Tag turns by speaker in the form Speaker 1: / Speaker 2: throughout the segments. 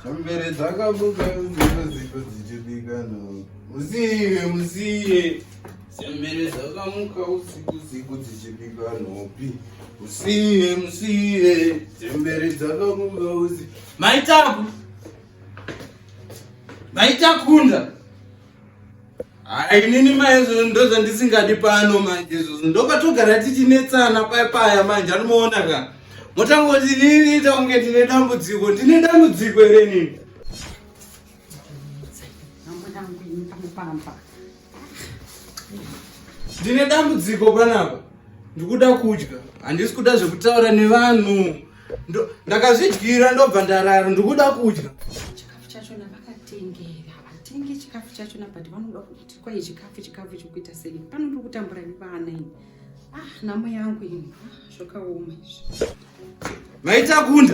Speaker 1: Chembere dzakabuka dzimwe dziko dzichibika no. Musiye, musiye. Chembere dzakamuka usiku usiku dzichibika nopi. Musiye, musiye. Chembere dzakamuka usiku. Maitaku. Maitakunda. Hayi nini maizvozvo ndozvandisingadi pano manje izvozvo ndokwatogara tichinetsana paya paya manje anomaona ka motangoti nini ita kunge ndine dambudziko ndine dambudziko here nini ndine dambudziko panapa ndikuda kudya handisi kuda zvekutaura nevanhu ndakazvidyira ndobva ndarara ndikuda kudya chikafu chachona
Speaker 2: vakatengera vatenge chikafu chachona but vanoda kuti kwai chikafu chikafu chikuita sei pano ndiri kutambura nevana ini ah nhamo yangu ini ah, zvakaoma izvi
Speaker 1: maitakunda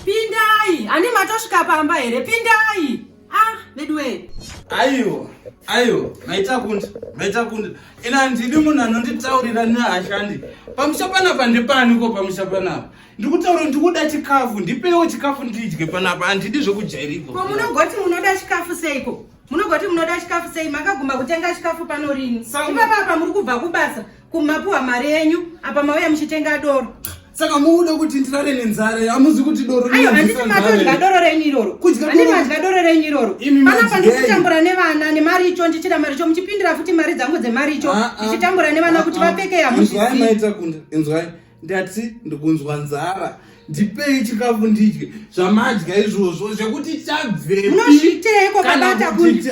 Speaker 1: pindai
Speaker 2: ani matosvika pamba here pindai ah veduwe aiwa aiwa maita kundi maita kundi ina handidi munhu anonditaurira neashandi pamusha panapa ndipaniko pamusha panapa ndikutaura ndikuda chikafu ndipewo chikafu ndidye panapa handidi zvekujairiko ko munogoti munoda chikafu seiko munogoti munoda chikafu sei makaguma kutenga chikafu pano rini Sangu- ipapapa muri kubva kubasa kumapuwa mari yenyu apa mauya muchitenga doro saka muuda
Speaker 1: kuti ndirare nenzara hamuzi kuti doroandisimatodya
Speaker 2: doro renyu iroro andimadya doro renyu iroro panapa ndikutambura nevana nemari icho ndichida mari icho muchipindira futi mari dzangu dzemari icho ah, ah. ndichitambura nevana kuti ah, vapfeke yamuziinzwai
Speaker 1: ndati ndikunzwa nzara ndipei chikafu ndidye zvamadya izvozvo zvekuti chabveunozviiteiko
Speaker 2: kabata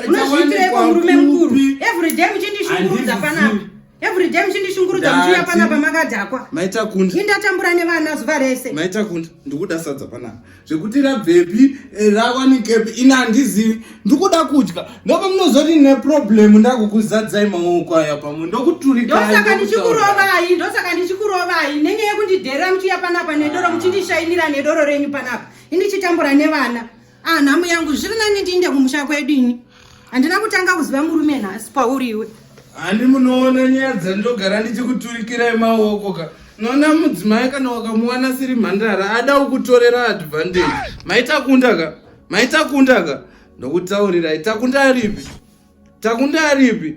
Speaker 2: unozviiteiko murume mukuru everyday muchindishungurudza panapa everyday muchindishungurudza muchiuya panapa makadhakwa maita kunda indatambura
Speaker 1: nevana
Speaker 2: zuva rese maita kunda ndikuda
Speaker 1: sadza panapa zvekuti rabvepi eh, rawanikepi ini handizivi ndikuda kudya ndopa munozoti ne problem ndakukuzadzai maoko aya pamwe ndokuturikaisaka
Speaker 2: ndichikurovai ndosaka ndichikurovai nenge yekundidherera muchiya panapa nedoro muchindishainira nedoro renyu panapa indichitambura nevana ah nhamu yangu zviri nani ndiinde kumusha kwedu ini handina kutanga kuziva murume nhasi pauri iwe handi
Speaker 1: munoona nyaya dzandogara ndichikuturikirai maoko ka nona mudzimai kana wakamuwana siri mhandara ada ukutorera advantage maitakunda ka maitakunda ka ndokutaurirai takunda aripi takunda aripi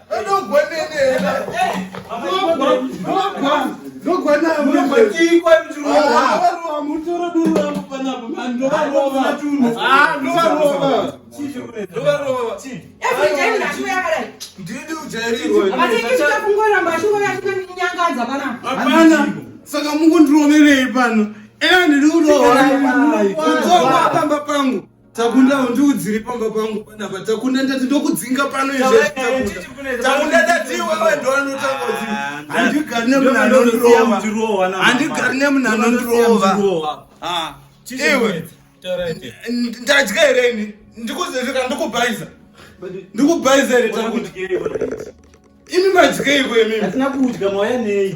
Speaker 1: saka mukundiroverei pano ena ndiri kuroora pamba pangu Takunda undiudziri pamba pangu panapa takunda ndati ndokudzinga pano izvezvitakunda ndati iwewe ndoanotakozi handigari nemunhu anondirova handigari nemunhu anondirova iwe ndadya here ini ndikuzezvika ndikubhaiza ndikubhaiza here takunda imi madyeiko imimi atina kudya mauya nei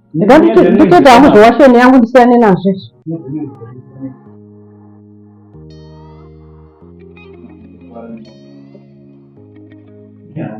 Speaker 3: nditoita hangu zvewasheni yangu ndisiyane nazvo izvi Yeah.